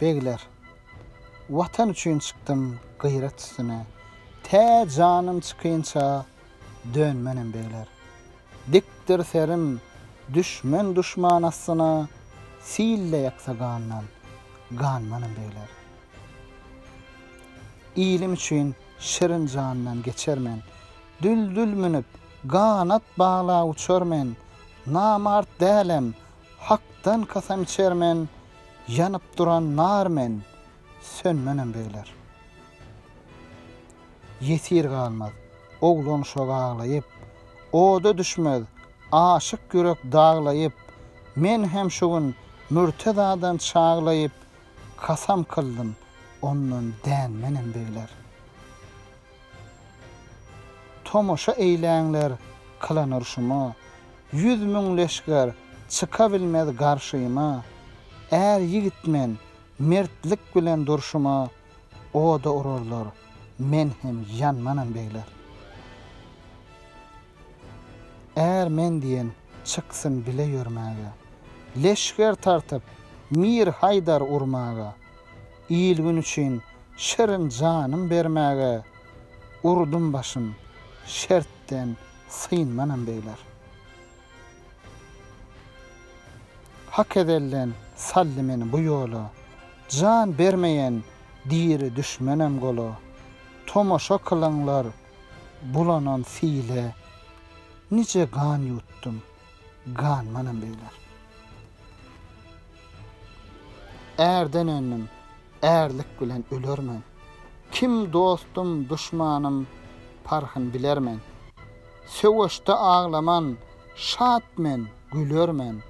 Begler, Watan üçin çykdym gyrat üstüne, Tä janym çykynça dönmenem begler. Dikdir serim düşmen duşman astyna, Sil-de ýaksa gandan, ganmanem begler. Ilim üçin şirin jandan geçer men, Düldül münüp Ganat baglap uçar men, Namart dälem, Hakdan kasam içer men, Ýanyp duran nar men, Sönmenem begler. Ýesir galmaz, oglan şoga aglaýyp, Oda düşmez, aşyk ýürek daglaýyp, Men hem şu gün Mürtezadan çaglaýyp, Kasam kyldym, ondan dänmenem begler. Tomaşa eýläňler kylan urşuma, Ýüz müň leşger çyka bilmez garşyma. Är ýigit men, mertlik bilen durşuma, Oda urarlar, men hem ýanmanam begler. Är men diýen çyksyn bile ýörmäge, Leşger tartyp Mir Haýdar urmaga. Il-gün üçin şirin janym bermäge urdum başym, şertden synmanam beýler. Hak ezelden saldy meni bu ýola, jan bermeýän diri düşmenem gola. Tomaşa kylyňlar bulanan sile, nije gan ýutdum. Gan manam beýler. Ärden öndüm, ärlik bilen ölermen. Kim dostum, duşmanym, parhyn bilermen. Söweşde aglaman, şat men, gülermen.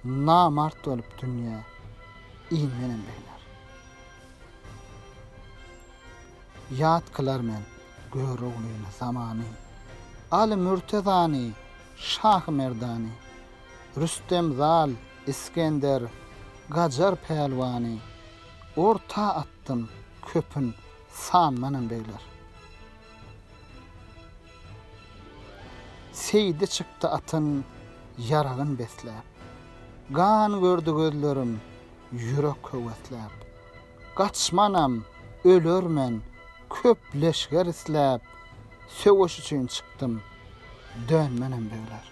Namart bolup dünýä inmenem beýler. Ýat kylar men Göroglyny, zamany. Aly Mürtezany, Şahymerdany, Rüstem Zal, Isgender, Gajar pälwany orta atdym, köpün sanmanam begler. Seýdi çykdy atyn ýaragyn besläp. Gan gördi gözlerim, ýürek höwesläp. Gaçmanam ölermen, köp leşger isläp, söweş üçin çykdym, dönmenem böler.